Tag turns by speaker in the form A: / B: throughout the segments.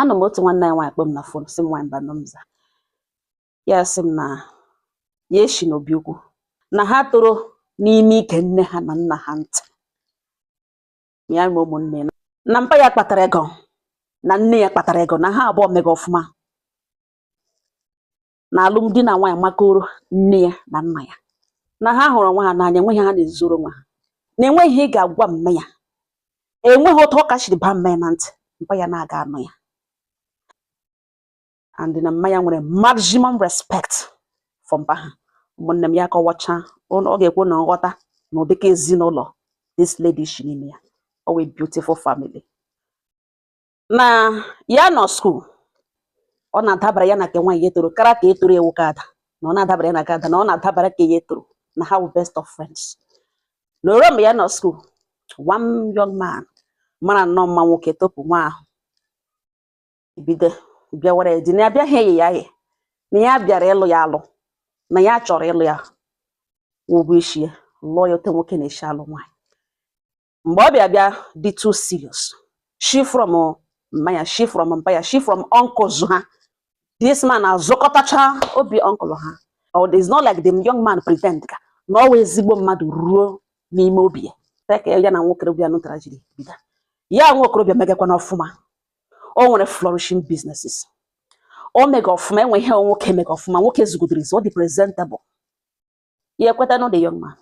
A: anọ m otu nwanne anyị nwaanyị kpọọ m na fon sị m nwaanyị Mbanọ m za ya sị m na ya eshi n'obi ukwu na ha toro n'ime ige nne ha na nna ha ntị ya ma ụmụnne na mpa ya kpatara ego na nne ya kpatara ego na ha abụọ mega ọfụma na alụmdi na nwaanyị makoro nne ya na nna ya na ha hụrụ onwe ha n'anya enweghị ha na-ezoro onwe ha na enweghị ihe ị ga-agwa mme ya enweghị otu ọ ka shiri baa mme ya na ntị mpa ya na-aga anụ ya and na mma ya nwere maximum respect for mpa ha ụmụnne m ya kọwacha ọ ga-ekwu na m ghọta na ụdịka ezinụlọ this lady shi n'ime ya ọ wụ a beautiful family na ya nọ skuul ọ na-adabara ya na nke nwaanyị ya tọrọ kara ke tọrọ ya wụ ke ada na ọ na-adabara ya na ke ada na ọ na-adabara ke ya tọrọ na ha wụ best of friends na o ruo mgbe ya nọ skuul one young man mara nnọọ mma nwoke topu nwa ahụ bido bịawara ya di na ya bịaghị iyi ya oyi na ya bịara ịlụ ya alụ na ya chọrọ ịlụ ya kwụọ ụgwọ isi ya lụọ ya otu nwoke na-esi alụ nwaanyị mgbe ọ bịa bịa dị too serious shi from mma ya shi from mpa ya shi from uncles ha this man azụkọtacha obi uncle ha or it's not like the young man pretend ka na ọ wụ ezigbo mmadụ ruo n'ime obi ya ka ya na nwokorobịa nụtara jiri bido ya nwokorobịa megakwanụ ọfụma o nwere flourishing businesses o mega ọfụma enwe ihe nwoke mega ọfụma nwoke zugodoro ọ dị presentable ya ekwetanụ the young man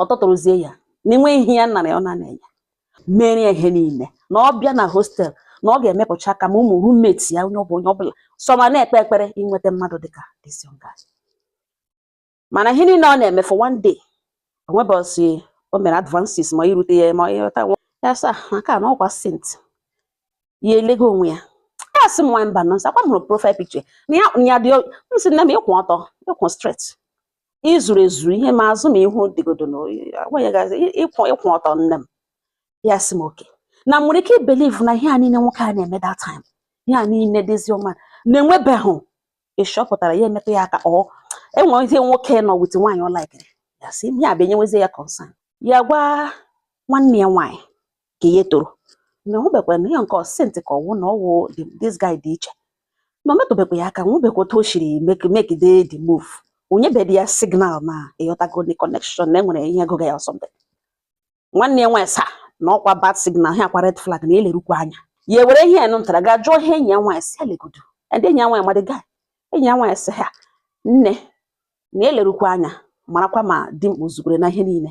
A: ọ tọtụrụzie ya na enwe ihe ya nara ya ọ na-enye ya mere ya ihe niile na ọ bịa na hostel na ọ ga-emepụcha aka ma ụmụ roommate ya onye ọ bụ onye ọbụla sọ ma na-ekpe ekpere inweta mmadụ dịka this young guy mana ihe niile ọ na-eme for one day o nwe ụbọsị o mere advances ma irute ya ma ị ghọta nwa ya sa maka na ọ kwa saint ya elego onwe ya ya sị m nwaanyị Mbanọ ọ kwa m hụrụ profile picture na ya ya dị m sị nne m ị kwụ ọtọ ị kwụ straight i zuru ezuru ihe ma azụ ma ihu dịgodo na ị kwụ ọtọ nne m ya sị m oke na m nwere ike ibeliv na ihe a niile nwoke a na-eme that time ihe a niile dịzi ọma na-enwebeghị ịchọpụtara ya emetụ ya aka ọ enwere ihe nwoke nọ with nwaanyị ọ laikiri ya sị ihe a bịa enyewezi ya concern ya gwa nwanne ya nwaanyị ke ya tọrọ na ọ bekwa na ya nke ọ saint ka ọ wụ na ọ wụ the- this guy dị iche na ọ metụbekwa ya aka nwebekwa otu o siri make make the the move o nyebedi ya signal na ị ghọtago the connection na enwere ihe gụga ya or something nwanne ya nwaanyị sa na ọ kwa bad signal ihe a kwa red flag nne lerukwa anya ya ewere ihe ya nụtara gaa jụọ ihe enyi ya nwaanyị sị ya legodo ndị enyi ya nwaanyị ma the guy enyi ya nwaanyị sị ha nne na elerukwa anya marakwa ma di m o zukwere na ihe niile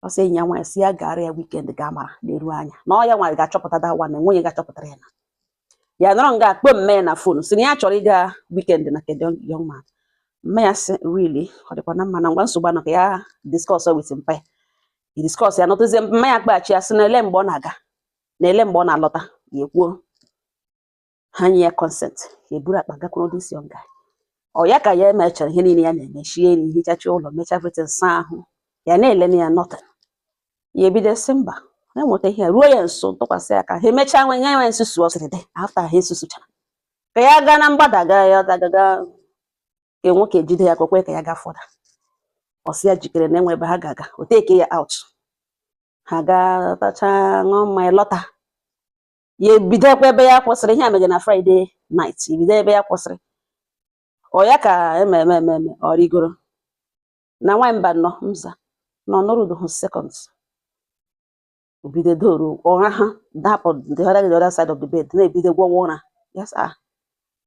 A: ọ sị enyi ya nwaanyị sị ya gara ya weekend ga mara na-eru anya na ọ ya nwaanyị ga-achọpụta da nwa na nwunye ga-achọpụtara ya na ya nọrọ nga a kpọọ mme ya na phone sị na ya chọrọ ịga weekend na nke the young man mme ya sị really ọ dịkwanụ mma na ngwa nsogbu anọ ka ya discuss with mpa ya discuss ya nọtụzie mme ya kpọghachi ya sị na ele mgbe ọ na-aga na ele mgbe ọ na-alọta ya ekwuo ha nye ya consent ya eburu akpa gakwuru this young guy ọ ya ka ya emechara ihe niile ya na-eme shie nri hichacha ụlọ mecha everything saa ahụ ya na-ele anya nothing ya ebido sị mba ya nweta ihe ruo ya nso tụkwasị ya aka ha emechaa nwe nye ya nsusu ọ sịrị dị after ha esusuchara ka ya gaa na mgbada gaa ya dagaga ka nwoke jide ya aka o kwee ka ya gaa further ọ sị ya jikere na e nwe ebe ha ga-aga o take ya out ha gaa tachaa ṅụọ mmanya lọta ya ebidokwa ebe ya kwụsịrị ihe a mege na friday night ebido ebe ya kwụsịrị ọ ya ka ememe ememe ọ rigoro na nwaanyị mbano m sị na ọ nọrudụhụ second o bido doro ụra ha dapụ the other the other side of the bed na-ebido gwọwa ụra yes ah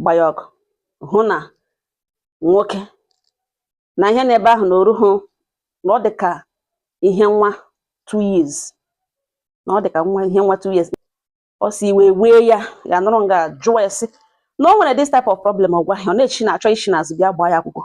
A: gba ya ọkụ hụ na nwoke na ihe n'ebe ahụ na o ruhu na ọ dị ka ihe nwa two years na ọ dị ka nwa ihe nwa two years ọ sị iwe wee ya ya nọrọ nga jụọ ya sị na o nwere this type of problem ọ gwaghị ọ na-echi na-achọ ishi n'azụ bịa gbaa ya akwụkwọ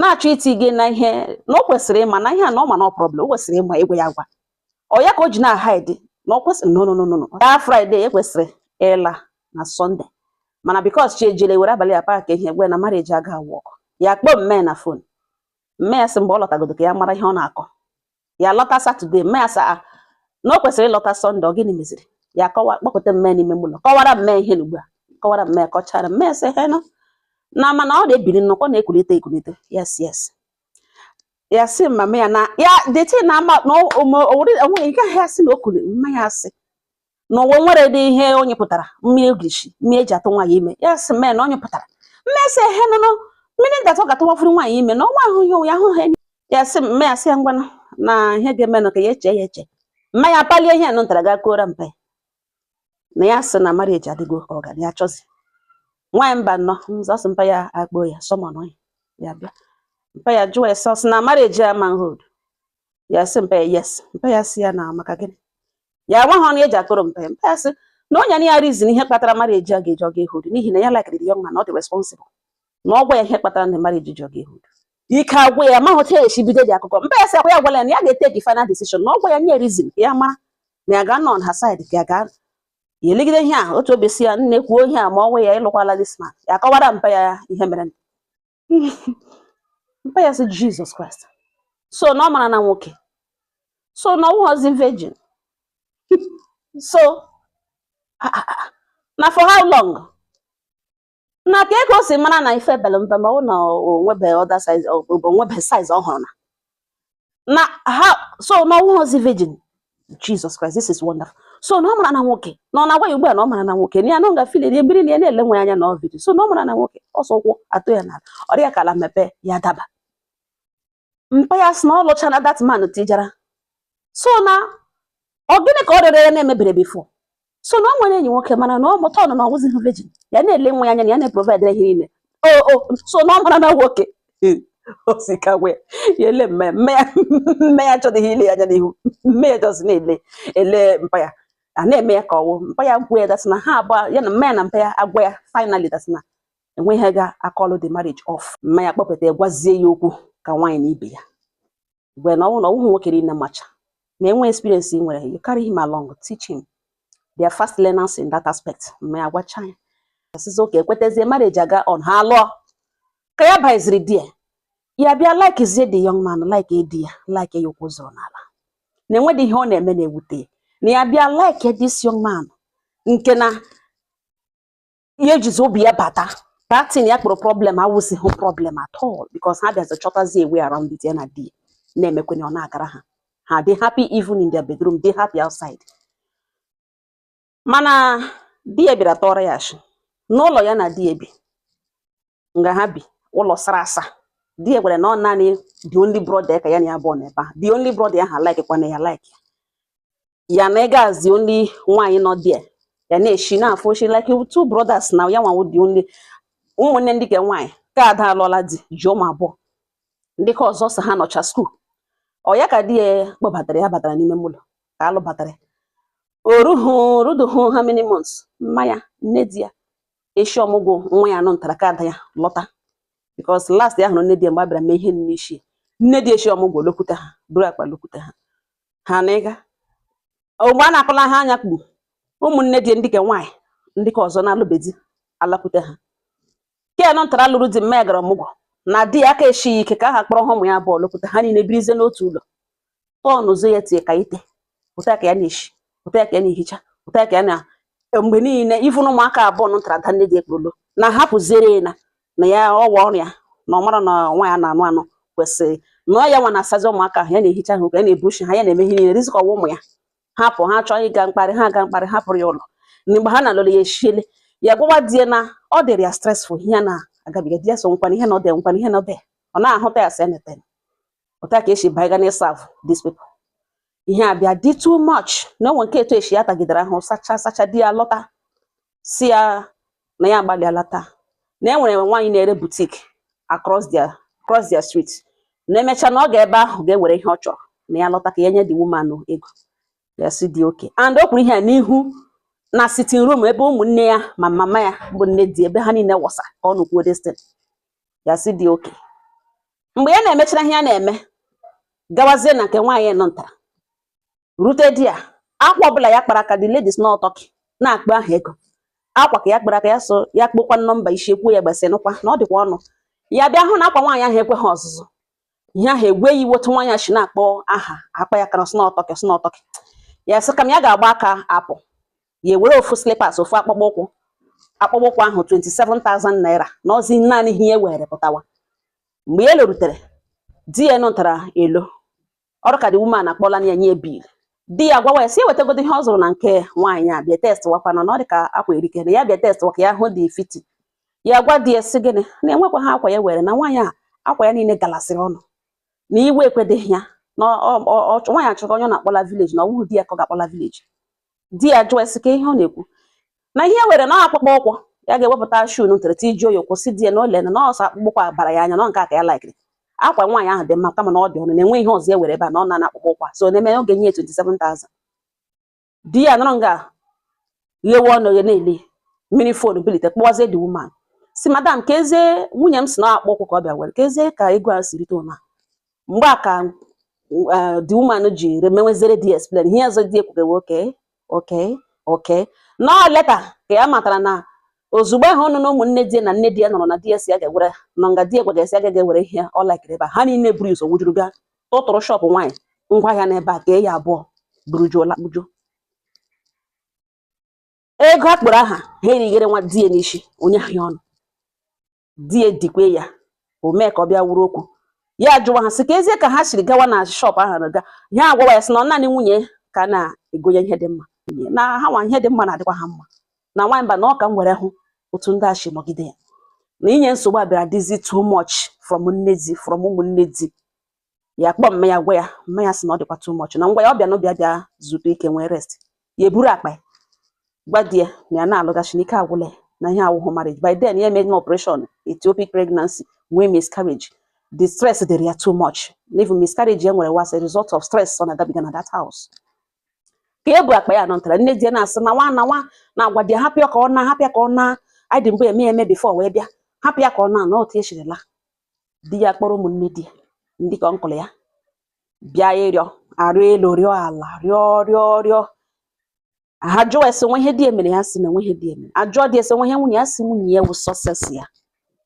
A: na-achọ iti gị na ihe na ọ kwesịrị ịma na ihe a na ọ ma na ọ problem o kwesịrị ịma agwa ya agwa ọ ya ka o ji na-ahide na ọ kwesịrị no no no no no ya friday e kwesịrị ịla na sunday mana because chi ejiele were abalị ya pack ihe gwe na marriage aga work ya kpọọ mme na phone mme ya sị mgbe ọ lọtagodo ka ya mara ihe ọ na-akọ ya lọta saturday mme ya sị na o kwesịrị ịlọta sunday ọ gịnị meziri ya kpọkọta mme n'ime ụlọ kọwara mme ihe na ugbu a kọwara mme kọchara mme sị he nọ na mana ọ na-ebili nnọkọ na-ekulite ekulite yes yes ya sị mama ya na ya deti na ama na o nweghị nke ahịa sị na o kuli mma ya sị na o nweredị ihe o nyepụtara mmiri ogirishi mmiri eji atụ nwaanyị ime ya sị mme na ọ nyepụtara mme sị he nụnụ mmiri ndatụ ga-atụwafuru nwaanyị ime na ọnwa ahụ ya ụya ahụ ha ya sị mme ya sị ya ngwanụ na ihe ga-eme nụ ka ya echee ya eche mma ya palie ihe nụ ntara ga kọọrọ mpe na ya sị na marriage adịghị ka ọ ga ya chọzi nwaanyị mbano m sị mpa ya akpọọ ya summon ya ya bịa mpa ya jụọ ya sị na marriage ama hold ya sị mpa ya yes mpa ya sị ya na maka gịnị ya agwa ha ọnụ eji akọrọ mpe mpe asị na o nyenụ ya reason ihe kpatara marriage aga eji ọ ga ehold n'ihi na ya likere the young man ọ dị responsible na ọ gwa ya ihe kpatara na marriage ji ọ ga ehold ike agwụ ya mahụ otu esi bidodị akụkọ mpa ya sị ọ kwa ya agwala ya na ya ga-etake final decision na ọ gwa ya nye reason ka ya mara na ya ga-anọ on her side ka ya ga ya elegide ihe a otu obi sị ya nne kwuo ihe a ma ọ gwa ya ịlụkwala this man ya akọwara mpa ya ihe mere mpa ya sị Jesus Christ so na ọ marana nwoke so na ọ wụghịzi virgin so ah, ah, ah. na for how long na kee ka o si mara na ife pere mpe ma ọ na o nwebe other size o nwebe size ọ hụrụ na na ha so na ọ wụghịzi virgin Jesus Christ this is wonderful so na ọ marana nwoke na ọ na-agwa ya ugbu a na ọ marana nwoke na ya na ọ gafile na ebiri na ya na-ele nwa anya na ọ virgin so na ọ marana nwoke ọsọ ụkwụ atụ ya n'ala ọ dị ya ka ala mepee ya daba mpa ya sị na ọ lụchana that man tijara so na ọ gịnị ka ọ rịọrọ ya na-emebere before so na o nwere enyi nwoke mana na ọ mụta ọ nọ na ọ wụzighị virgin ya na-ele nwa ya anya na ya na-eprovidere ihe niile o o so na ọ marana nwoke osikagwe ya ele mma mma ya mma ya achọdịghị ile ya anya n'ihu mma ya just na-ele ele mpa ya ọ na-eme ya ka ọ nwụọ mpa ya gwa ya that's na ha abụọ ya na mma ya na mpa ya agwa ya finally that's na enweghị ike a-call the marriage off mma ya kpọpụta ya gwazie ya okwu ka nwaanyị na ibe ya gwa ya na ọ wụ na ọ wụghị nwoke niile macha ma enwe experience i nwere you carry him along teach him they are fast learners in that aspect mma ya gwacha ya a sịzie okay ekwetezie marriage aga on ha lụọ ka ya baiziri di ya ya bịa likezie the young man like di ya like ya ụkwụ zọrọ n'ala na enwedị ihe ọ na-eme na-ewute ya na ya bịa like this young man nke na ya ejizi obi ya bata that thing ya kpọrọ problem awụzighị problem at all because ha bịazi chọtazi a way around it ya na di na-emekwenye ọ na-agara ha ha dị happy even in their bedroom dị happy outside mana di ya bịara tụọrọ ya ashị n'ụlọ ya na di ya bi nga ha bi ụlọ sara asa di ya gwara na ọ naanị the only brother ka ya na ya bi n'ebe a the only brother ya ha like kwana ya like ya ya na-aga as the only nwaanyị nọ there ya na-eshi na-afụ oshi like two brothers now ya nwa wụ the only ụmụnne ndị ke nwaanyị ke ada alụọla di ji ụmụ abụọ ndị ke ọzọ sị ha nọcha school ọ ya ka di ya kpọbatara ya batara n'ime ụlọ ka a lụbatara o ruhu o ruduhu how many months mma ya nne di ya eshi ọmụgwọ nwa ya nọ ntara ke ada ya lọta because last ya hụrụ nne di ya mgbe a bịara mee ihe n'ishi nne di eshi ọmụgwọ lọkwute ha buru akpa lọkwute ha ha nọ nga mgbe a na-akọla ha anya kpuru ụmụnne di ndị ke nwaanyị ndị ke ọzọ na-alụbe di alakwute ha ke nọ ntara lụrụ di mma ya gara ọmụgwọ na di ya aka esighị ike ka ha kpọrọ ha ụmụ ya abụọ lọkwute ha niile birizie n'otu ụlọ tọn ụzọ ya tie ka ite ụta ka ya na-eshi ụta ka ya na-ehicha ụta ka ya na mgbe niile ị fụ na ụmụaka abụọ nọ ntara da nne di ekporo na hapụziere ya na na ya ọwa ọrịa na ọ mara na nwa ya na-anụ anụ kwesịrị na ọ ya nwa na-asazi ụmụaka ahụ ya na-ehicha ha ụka ya na-ebuchi ha ya na-eme ihe niile rizikọwa ụmụ ya hapụ ha chọọ ịga mkparị ha aga mkparị hapụrụ ya ụlọ mgbe ha na-alụrụ ya echiele ya gwawa di ya na ọ dịrị ya stressful ihe na-agabiga di ya so nkwana ihe na ọ dị nkwana ihe na ọ dị ọ na-ahụta ya sị anything otu a ka esi baiga na ịsavụ these people ihe a bịa dị too much na o nwe nke etu esi ya tagidere ahụ sacha sacha di ya lọta si ya na ya agbalịala taa na e nwere nwaanyị na-ere boutique across their across their street na e mecha na ọ ga ebe ahụ ga-ewere ihe ọ chọrọ na ya lọta ka ya nye the woman ego ya sị di okay and o kwuru ihe a n'ihu na sitting room ebe ụmụnne ya ma mama ya bụ nne di ebe ha niile wọsa ka ọ nụkwuo this thing ya sị di okay mgbe ya na-emechara ihe ya na-eme gawazie na nke nwaanyị nọ nta rute di ya akwa ọbụla ya kpara aka the lady sị na ọ Turkey na-akpọ aha ego akwa ka ya kpara aka ya so ya kpokwa nọmba isi ekwuo ya gbasị nụkwa na ọ dịkwa ọnụ ya bịa hụ na akwa nwaanyị ahụ ekweghị ọzụzụ ihe ahụ ewe ya iwe otu nwaanyị si na-akpọ aha akwa ya kara sị na ọ Turkey sị na ọ Turkey ya sị kama ya ga-agba aka apụ ya ewere ofu slippers ofu akpụkpọ ụkwụ akpụkpọ ụkwụ ahụ 27,000 naira na ọ zi naanị ihe ya were pụtawa mgbe ya larutere di ya lọtara ụlọ ọrụ ka the woman akpọla ya nye bill di ya gwawa ya si ewetagodo ihe ọ zụrụ na nke nwaanyị a bịa testwakwanụ na ọ dị ka akwa erike na ya bịa testwa ka ya hụ the fit ya gwa di ya si gịnị na enwekwaha akwa ya were na nwaanyị a akwa ya niile galasịrị ọnụ na iwe ekwedeghị ya na nwaanyị a chọrọ onye ọ na-akpọla village na ọ wụghị di ya ka ọ ga-akpọla village di ya jụọ sị kee ihe ọ na-ekwu na ihe e were na akpụkpọ ụkwụ ya ga-ewepụta shoe nụtara ti ji oyi kwụsị di ya na lee na ọ sọ akpụkpọ ụkwụ a bara ya anya na nke a ka ya laikiri akwa nwaanyị ahụ dị mma kama na ọ dị ọnụ na enwe ihe ọzọ ya were ebe a na ọ na akpụkpọ ụkwụ so na-eme oge nye 27,000 di ya nọrọ nga ghewe ọnụ ghe na-ele mịrị phone bilite kpọwazie the woman si madam ka ezie nwunye m si na akpụkpọ ụkwụ ka ọ bịa were ka ezie ka ego a si rite ụna mgbe a ka uh, the woman ji remewezere di explain ihe ọzọ di ekwugewe okay okay okay na later ka ya matara na ozugbo ahụ ọnụ na ụmụnne di na nne di ya nụrụ na di ya si ya ga-ewere nọ nga di ya gwara si ya ga ewere ihe ọ laikiri ebe ha niile buru ụzọ wujuru bịa tụtụrụ shop nwaanyị ngwa ahịa n'ebe aka ya abụọ burujuo lakpujuo ego a kpọrọ aha ha erighere nwa di ya n'isi onye ahịa ọnụ di ya dikwe ya o mee ka ọ bịa wuru okwu ya jụwa ha sị ka ezie ka ha siri gawa na shop ahụ na ga ha agwawa ya sị na ọ naanị nwunye ka na-egonye ihe dị mma na ha nwa ihe dị mma na-adịkwa ha mma na nwaanyị mba na ọ ka m were hụ otu ndị a si nọgide ya na inye nsogbu a bịara dịzi too much from nne di from ụmụnne di ya kpọọ mma ya gwa ya mma ya sị na ọ dịkwa too much na ngwa ya ọ bịa n'obi bịa zuru ike nwee rest ya eburu akpa ya gwa di ya na ya na-alaghachi na ike agwụla ya na ihe a awụhụ marriage by then ya emeghị operation ectopic pregnancy nwee miscarriage the stress dịrị ya too much na even miscarriage ya nwere was a result of stress ọ na-agabiga na that house ka e bu akpa ya nọ ntara nne di ya na-asị na nwa na nwa na-agwa di ya hapụ ya ka ọ naa hapụ ya ka ọ naa anyị dị mgbe eme ya eme before wee bịa hapụ ya ka ọ naa na otu echirila di ya kpọrọ ụmụnne di ya ndị ka uncle ya bịa ịrịọ arịọ elu rịọ ala rịọ rịọ rịọ a jụọ ya sị o nwe ihe di ya mere ya sị na enweghị ihe di ya mere a jụọ di ya sị o nwe ihe nwunye ya sị nwunye ya wụ success ya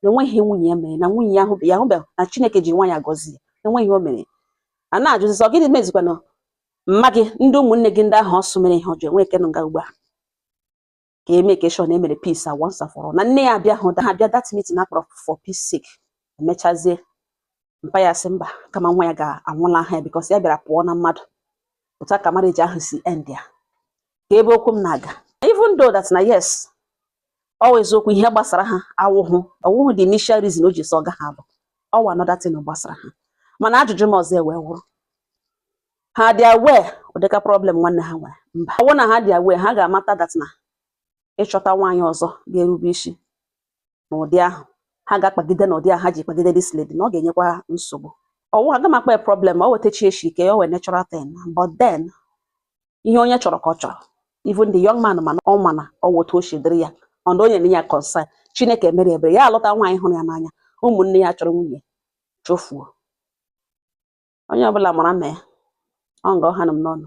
A: na enweghị ihe nwunye ya mere na nwunye ya hụbe ya hụbe na chineke ji nwa ya gọzie enweghị ihe o mere a na-ajụzi so gịnị mezikwanụ mma gị ndị ụmụnne gị ndị ahụ ọ sị mere ihe ọjọọ o nwe nke nọ nga ugbu a ka e make sure na e mere peace once and for all na nne ya abịahụ abịa that meeting a kpọrọ for peace sake emechazie mpa ya sị mba kama nwa ya ga-anwụlaha ya because ya bịara pụọ na mmadụ otu a ka marriage ahụ si end ya ka ebe okwu m na-aga even though that na yes ọ wụ eziokwu ihe gbasara ha awụhụ ọ wụhụ the initial reason o ji sị ọ ga-ahapụ ọ wụ another thing gbasara ha mana ajụjụ m ọzọ ewee wụrụ ha dị aware ụdịka problem nwanne ha nwere mba ọ bụrụ na ha dị aware ha ga-amata that na ịchọta nwaanyị ọzọ ga-erube isi n'ụdị ahụ ha ga-akpagide n'ụdị ahụ ha ji kpagide this lady na ọ ga-enyekwa ha nsogbu ọ wụ aga m akpa problem o wetachi echi ike ya o wee natural thing but then ihe onye chọrọ ka ọ chọrọ even the young man mana ọ mana ọ wụ otu o si dịrị ya ọnụ onye na ya concern chineke mere ebere ya alụta nwaanyị hụrụ ya n'anya ụmụnne ya chụrụ nwunye chụfuo onye ọbụla mara mee ọ nga ọ hanụ m n'ọnụ